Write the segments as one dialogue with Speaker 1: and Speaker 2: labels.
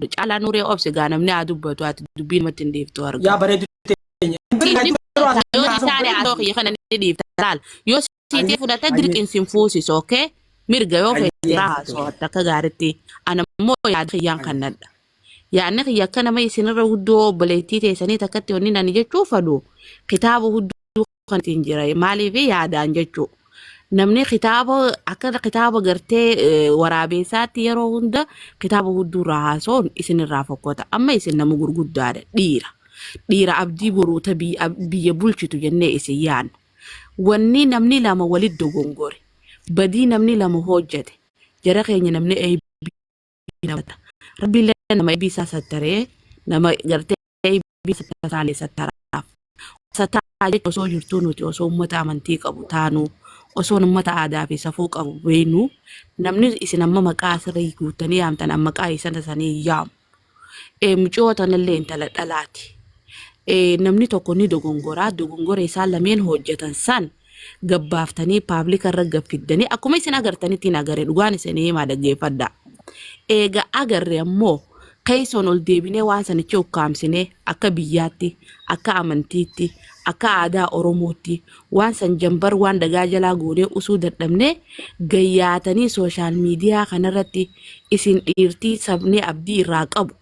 Speaker 1: Caalaa Nuuree obse gaa namni haa dubbatu ati dubbii namatti hin dhiiftu arga. Yaa bareedu teenya.
Speaker 2: Siiti
Speaker 1: fudhata yoo si taane haasoo kiyya kana ni dhiifta laal yoo siitee fudhata dirqiin sin fuusisu ookee mirga yoo feete irraa haasawatta akka gaaritti ana immoo yaada kiyyaan kan nadha. Yaadni kiyya akka nama isinirra guddoo obboleettii teessanii takkatti wanni ani jechuu fadhu kitaaba hudduu kan ittiin jira maaliif yaadaan jechuu namni kitaaba akka kitaaba gartee eh, waraabeessaatti yeroo hunda kitaaba hedduurraa haasoon isinirraa fokkota amma isin nama gurguddaadha dhiira dhiira abdii boruuta biyya ab- biyya bulchitu jennee isin yaanna wanni namni lama walitti dogongore badii namni lama hojjete jara keenya namni hinaafadha. Rabbi illee nama ibi isaa sattaree nama gartee ibi sattaalee sattaraaf. Sattaa jechuun osoo jirtuu nuti osoo uummata amantii qabu taanuu osoo uummata aadaa fi safuu qabu beeynu namni isin amma maqaa asirra guuttanii yaamtan amma maqaa isana sanii yaamu. Eh, Mucoo tanallee intala dhalaati. Eh, Namni tokko ni dogongoraa dogongora isaan lameen hojjetan san gabbaaftanii paablika irra gaffiddanii akkuma isin agartanitti hin agarre dhugaan isin himaa dhaggeeffadha. Eega agarre ammoo keessoon ol deebinee waan sanichi ukkaamsinee akka biyyaatti, akka amantiitti, akka aadaa Oromootti waan san jambar waan dagaa jalaa goonee usuu dadhabnee gayyaatanii sooshaal miidiyaa kanarratti isin dhiirtii sabni abdii irraa qabu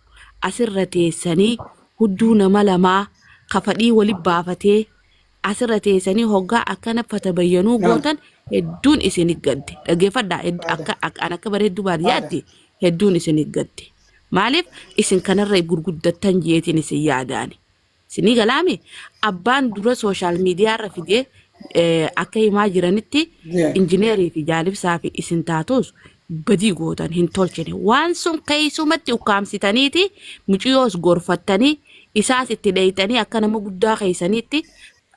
Speaker 1: asirra teessanii hudduu nama lamaa ka fadhii wali baafatee asirra teessanii hoggaa akkana fatabayyanuu Naam. gootan hedduun isinit gadde dhageeffadhaa hed- Baada. akka akka- an akka bareeddu baadiyyaatti hedduun isinit gadde maaliif isin kanarra gurguddattan jeetiin isin yaadaani isinii galaami abbaan dura sooshaal miidiyaarra fidee eh, akka himaa jiranitti Jee. injineerii fi jaalibsaa fi isin taatus badii gootan hin tolchine. Waan sun keessumatti ukkaamsitaniiti muciyoos gorfattanii isaas itti dheeyxanii akka nama guddaa keessaniitti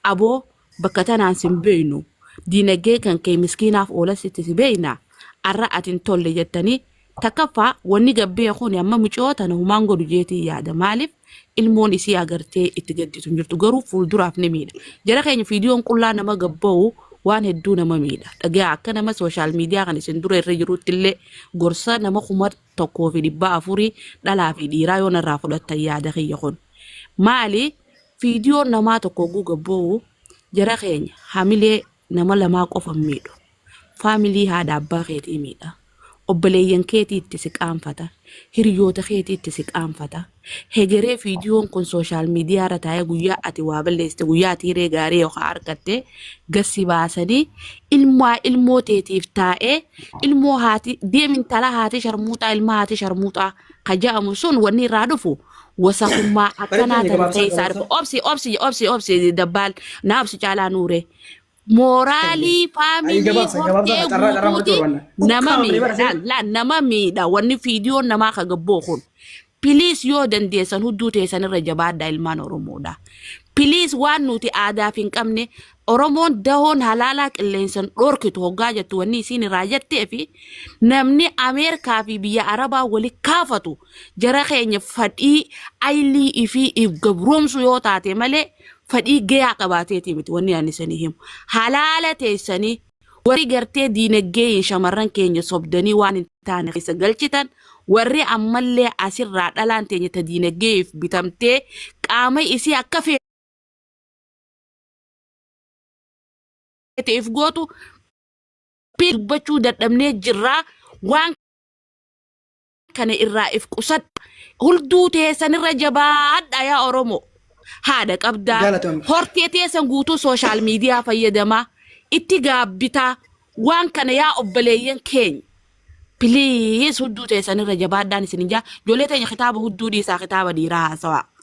Speaker 1: aboo bakka tanaan sin beeynu diinagee kan kee miskiinaaf oolas itti si beeyna arra ati hin tolle jettanii takkaffaa wanni gabbee kun amma muciyoo tana humaan godhu jeetii yaada maaliif ilmoon isii agartee itti gadditu hin jirtu garuu fuulduraaf ni miidha. Jara keenya viidiyoon qullaa nama gabba'u waan hedduu nama miidha. Dhagaa akka nama sooshaal miidiyaa kan isin dura irra jirutti illee gorsa nama kuma tokkoo fi dhibba afurii dhalaa fi dhiiraa yoo narraa fudhattan yaada kiyya kun. Maali viidiyoon namaa tokko oguu gabba'u jara keenya hamilee Nama lamaa qofa hin miidhu. Faamilii haadha abbaa keetii miidha. Obboleeyyan keetii itti si qaanfata. Hiriyoota keetii itti si qaanfata. Hegeree viidiyoon kun sooshaal miidiyaa irra taa'ee guyyaa ati waa balleessite guyyaa ati hiree gaarii yookaan argatte gassi baasanii ilmaa ilmoo teetiif taa'ee ilmoo haati deem intala haati sharmuuxaa ilmaa haati sharmuuxaa ka ja'amu sun wanni irraa dhufu wasakummaa akkanaa Barattoonni tana gabaabsaa keessa argu gabaabsaa. obsi obsi obsi obsi dabbaal na obsi caalaa nuure mooraalii Ayi faamilii gabaabsa gabaabsa hortee carraa carraa fudhachuu guutuuti barbaanna. nama Ukkaamne miidha bara laal seenaa. laal nama miidha wanni fiidiyoon namaa ka gabboo kun piliis yoo dandeessan hudduu teessan irra jabaadha ilmaan oromoodha piliis waan nuti aadaaf hin qabne Oromoon dahoon halaalaa qilleensan dhorkitu hoggaa jettu wanni isiin irraa jettee fi namni Ameerikaa fi biyya Arabaa wali kaafatu jara keenya fadhii aylii ifii if gabroomsu yoo taate malee fadhii gayaa qabaateetii miti wanni ani isanii himu. Halaala teessanii warri gartee diinaggeeyin shamarran keenya sobdanii waan hin taane keessa galchitan warri ammallee asirraa dhalaan teenya ta diinaggeef bitamtee qaama isii akka fee ta'eef gootu dubbachuu dadhabnee jirraa waan kana irraa if qusadha hulduu teessan irra jabaadha yaa oromoo haadha qabdaa Galatoomi. hortee teessan guutuu sooshaal miidiyaa fayyadamaa itti gaabbitaa waan kana yaa obboleeyyan keenya piliis hudduu teessan irra jabaadhaan isin ijaa ijoollee teenya kitaaba hudduu dhiisaa kitaaba dhiiraa haasawaa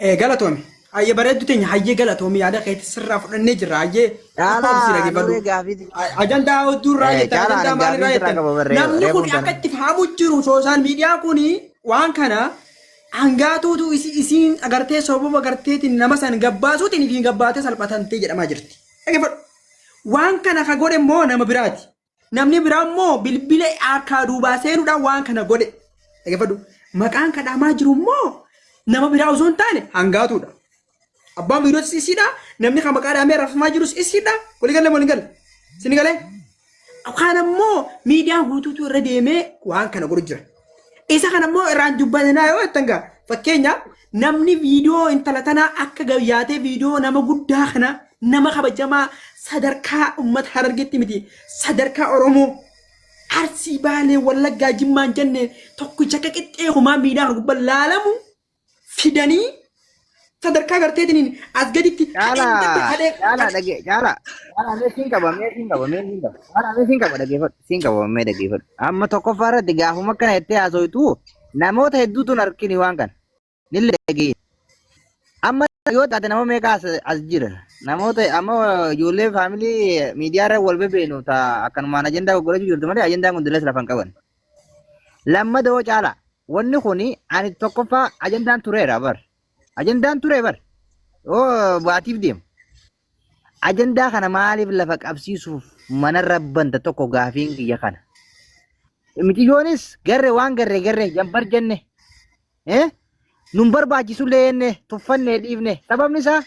Speaker 2: Eh, galatoomi. Hayyee bareeddu teenya hayyee galatoomi yaada keetti sirraa fudhannee jirra hayyee. Caalaa Lakkoofsi dhage barruu. nurree gaafii Ajandaa hedduu irraa Eh, jettan caalaa ajandaa ani maal irraa gaafii sirraa jettan qaba barree namni kun reefuun akka sana. itti fahamu jiru sooshaal miidiyaa kun waan kana hangaatuutu isi- isiin agartee sababa agarteetiin nama san gabbaasuutiin ifiin gabbaatee salphatantee jedhamaa jirti. Dhaggeeffadhu. Waan kana ka godhe immoo nama biraati. Namni biraa immoo bilbila harkaa duubaa seenuudhaan waan kana godhe. Dhaggeeffadhu. Maqaan kadhaamaa jiru immoo nama biraa osoo hin taane hangaatuudha. Abbaan biirootis isiidha. Namni kan maqaa dhaamee rafamaa jirus isiidha. Walii galee walii galee. Sini galee. Kaan ammoo miidiyaa guutuutu irra deemee waan kana godhu jira. Isa kana immoo irraan dubbatinaa yoo jettan gaa fakkeenyaaf namni viidiyoo intala tanaa akka gayyaatee viidiyoo nama guddaa kana nama kabajamaa sadarkaa uummata harargeetti miti sadarkaa Oromoo arsii baalee wallaggaa jimmaan jennee tokkicha akka qixxee kumaa miidhaa kana gubbaa laalamu fidanii sadarkaa garteetiniin as gaditti Caalaa hadhee caalaa dhagee caalaa caalaa mee siin qaba mee siin qaba mee siin
Speaker 3: qaba caalaa mee siin qaba dhageeffadhu siin qaba mee dhageeffadhu amma tokkoffaa irratti gaafuma kana jettee haasoitu namoota hedduutu hin argini waan kana nille dhagee amma yoo taate nama meeqa as as jira namoota amma ijoollee faamilii miidiyaa irra wal bebeenu taa akkanumaan ajandaa gurgurachuu jirtu malee ajandaa kun dilas lafa hin qaban Lammada hoo caalaa wanni kun ani tokkoffaa ajandaan tureera bar. Ajandaan ture bar. Yoo baatiif deemu. Ajandaa kana maaliif lafa qabsiisuuf mana rabbanta tokko gaafiin kiyya kana. Miciyoonis garre waan garre garre jambar jenne. Eh? Nun barbaachisullee jenne tuffannee dhiifne. Sababni isaa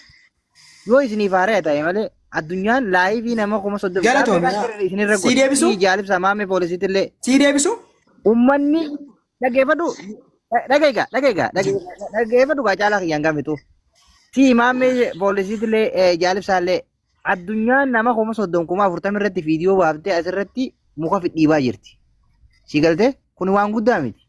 Speaker 3: yoo isiniif haaraya ta'e malee addunyaan laayivii nama kuma soddoma Galatoomi. Gaaffiidhaan garri isinirra Sii godhe. deebisuu? Sii jaalibsa maamee poolisiitillee. Sii deebisu?
Speaker 2: Ummanni
Speaker 3: dhageeffadhu dhageega dhageega dhageeffadhu gaa caalaa kiyyaan gaafatu. Si imaamee poolisiitillee eh, jaalibsaallee addunyaan nama kuma soddom kuma afurtama irratti viidiyoo baaftee asirratti muka fidhiibaa jirti. Si galtee kun waan guddaa miti.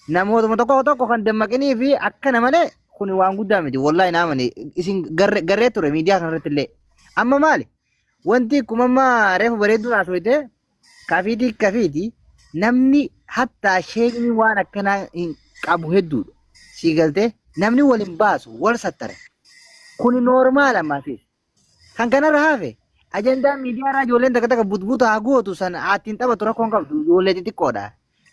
Speaker 3: Namootuma tokko tokko kan dammaqinii fi akkana malee kun waan guddaa miti. Wallaahi naa mane isin garre- garree ture miidiyaa kanarratti illee. Amma maali? Wanti akkuma amma reefu bareedduu haasofte kafiitii kafiiti namni hattaa sheekni waan akkanaa hin qabu hedduudha. Sii galtee namni wal hin baasu wal sattare. Kuni noormaala maasiis. Kan kanarra hafe ajandaan miidiyaa irraa ijoolleen takka takka butbuta haa gootu sana haattiin taphatu rakkoon qabdu ijoollee xixiqqoodha.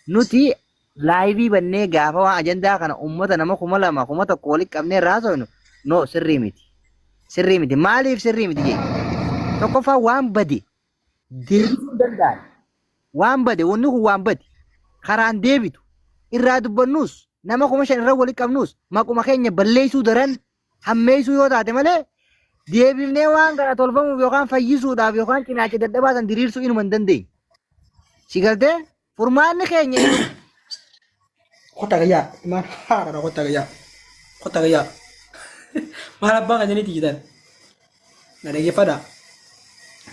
Speaker 3: Nuti laayivii bannee gaafa waan ajandaa kana uummata nama kuma lama kuma tokko walitti qabnee irraa haasofnu no sirrii miti. Sirrii miti maaliif sirrii miti jee tokkoffaa waan bade deebisuu hin danda'an. Waan bade wanni kun waan bade karaan deebitu irraa dubbannus nama kuma shan irra walitti qabnus maquma keenya balleessuu daran hammeessuu yoo taate malee deebifnee waan kana tolfamuuf yookaan fayyisuudhaaf yookaan cinaacha dadhabaa san diriirsuu inuma hin dandeenye. Si galtee furmaanni keenya inni
Speaker 2: Kota kaya, man hara kota kaya. Kota kaya. Maal abbaa kan janitti jitan. Na dhaggeeffadha.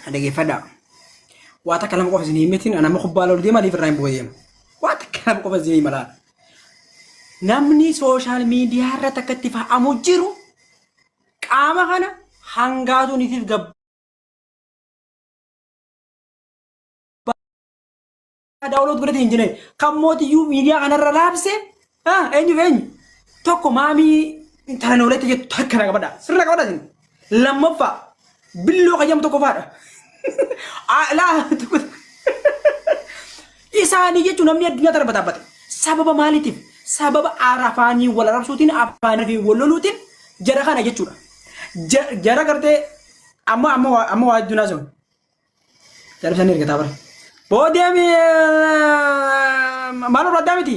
Speaker 2: Na dhaggeeffadha. Waa takka nama qofa isin hin mitin, nama kubbaa lolu deema, liif irraa hin bu'u deema. Waa takka nama qofa isin hin malaa. Namni sooshaal miidiyaa irratti akka itti fa'amu jiru qaama kana hangaatuun ifiif daawwaloot godhate hin jine kan mootiyyuu miidiyaa kanarra raabse eenyu eenyu tokko maamii intalanooleetti jettu takka na qabadha sirra qabadha isin Lammaffaa billoo kayyam tokkoffaadha. Aa, Ilaa tokko isaanii jechuun namni addunyaa tana bataabbate. Sababa maaliitiif? Sababa arafaanii wal arabsuutiin afaanii fi wal loluutiin jara kana jechuudha. Ja- Jara gartee amma amma waa- amma waa addunyaa sun. Darbisanii ergataa bara. Boodee mi- maaloo addaa miti?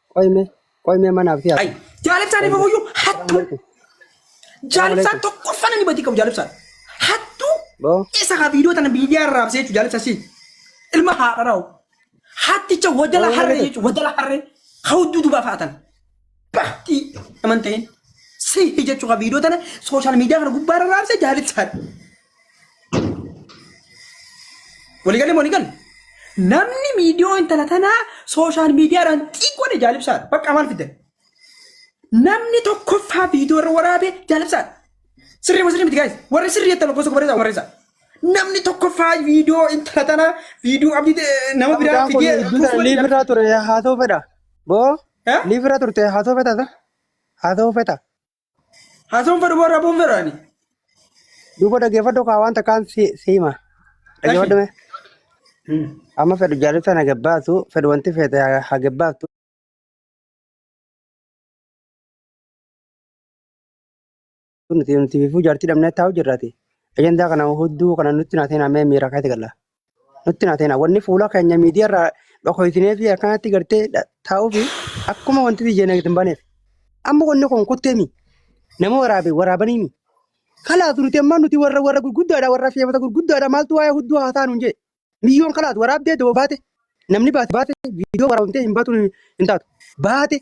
Speaker 2: Qoy mee
Speaker 4: qoy mee mana abdii Ay, jaalibsaan hin fufuyyu
Speaker 2: hattuu. Assalamualaikum. Jaalibsaan Assalamualaikum. tokkoffaan inni badii qabu jaalibsaan. Hattuu Boo isa haa viidiyoo tana miidiyaa irraa raabsee jechuudha jaalibsa si. Ilma haadha raa'u. Hatticha wadala harree Assalamualaikum. jechuudha wadala harree haa hudduu dubaa fa'atan. Bahtii naman ta'in. Si jechuu haa viidiyoo tana sooshaal miidiyaa kana gubbaa irra raabsee jaalibsaan. Waliigalee walii galle. Namni miidiyoo intala tanaa sooshaal miidiyaadhaan xiqqoodha jaalibsaadha. Bakka maal fiddan? Namni tokkoffaa viidiyoo irra waraabe jaalibsaadha. Sirrii moo sirrii miti gaa'is? Warri sirrii jettan lakkoofsa barreessaa barreessaa. Namni tokkoffaa viidiyoo intala tanaa viidiyoo abdii ta'e nama biraa Abdaan kun fidee iddoo kuusu sana waliin liif irraa ture
Speaker 4: haasoo fedha. Boo Eh? liif irraa turte haasoo fedha sa? Haasoo fedha. Hasoon
Speaker 2: fedhu boo rabuun fedhu ani.
Speaker 4: Duuba dhaggeeffadhu kaa waan takkaan si si hima. Eshi. Dhaggeeffadhu mee. Hmm. Amma fedhu jaalibsaan hagebbaatu fedhu wanti feete ha- hagebbaatu. Nuti nuti fifuu jaartii dhabnee taa'u jirraati. Ajandaa kana hudduu kana nutti naatee naamee miira kaayte galla. nutti naa ta'ina. Wanni fuula keenya miidiyaa irraa dhokoysinee fi akkanatti gartee taa'uu fi akkuma wanti biyya nagatti hin baneef. Amma wanni kun kutteemi. Nama waraabe waraabaniimi. Kalaatu nuti amma nuti warra warra gurguddaadha warra feemata gurguddaadha maaltu waa'ee hudduu haasaa nuun jedhe. Biyyoon kalaatu waraabdee doo baate namni baate baate viidiyoo waraabamtee hin baatu hin taatu. Baate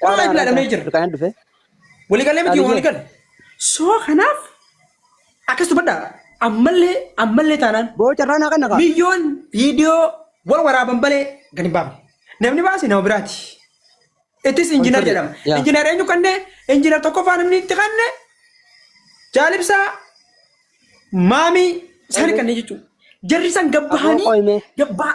Speaker 2: Kun Caalaa eebbilaadha mee jira. Rifaayan dhufe. Waliigalee miti Caalii kee. waliigale. Soo kanaaf akkas dubbadha. Ammallee ammallee taanaan Boo carraa naa kenna kaa.
Speaker 4: biyyoon viidiyoo
Speaker 2: wal waraaban malee gadi hin baafne. Namni baase nama biraati. Ittis injinar Konfirri, jedhama. yaa. Injinar eenyu kanne injinar tokkoffaa namni itti kanne jaalibsaa maamii isaanii kanneen jechuudha. Jarri san Aboo gabbahanii qoyme. gabbaa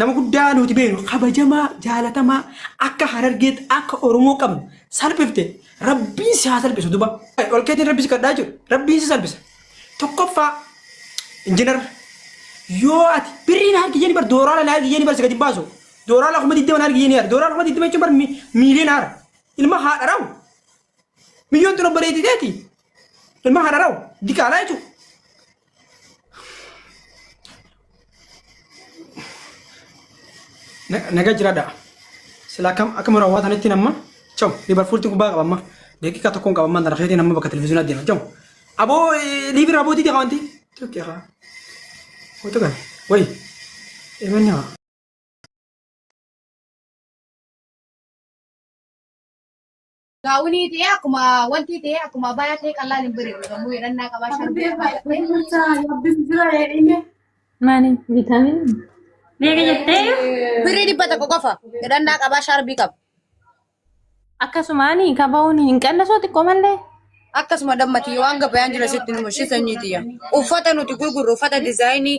Speaker 2: Nama guddaa nuti beeknu kabajamaa jaalatamaa akka harargeetti akka oromoo qabnu salphifte rabbiin si haa salphisu duba ol keetiin rabbi si kadhaa jiru rabbiin si salphisa tokkoffaa injinar yoo ati birriin harki jenni bar dooraala na harki jenni bar si gadi hin baasu dooraala kuma digdama na harki jenni yaar dooraala kuma digdama jechuun bar miiliyoon haara ilma haadha rawu Miyyoon tun obboleetti teeti. Ilma hararaw diqaalaa jechuudha. Naga jiraadha. Sila akkam akkam yeroo hawaa tanatti namma cawu liibarfuulti kubbaa qaba amma daqiiqaa tokkoon qaba amma darafeetii namma bakka televizyiinaa deema cawu. Aboo liibi raabootii deeqa wanti. Tokkee haa. Wata kana wayi. Eemanni haa.
Speaker 5: Gaawunii ta'ee akkuma wanti ta'ee akkuma bayaa ta'ee qallaan hin bareedu gamoo
Speaker 6: hidhannaa qabaa shan ta'ee baay'atee. Maani vitaamin Beeka jettee Birrii dhibba tokko
Speaker 5: qofa hidhannaa qabaa shaarbii qaba.
Speaker 6: akkasumaan kabahuun hin qannasoo xiqqoo malee. Akkasuma
Speaker 5: dammatii waan gabayaan jira sitti nu mashii sanyii tiyya. Uffata nuti gurgurru uffata dizaayinii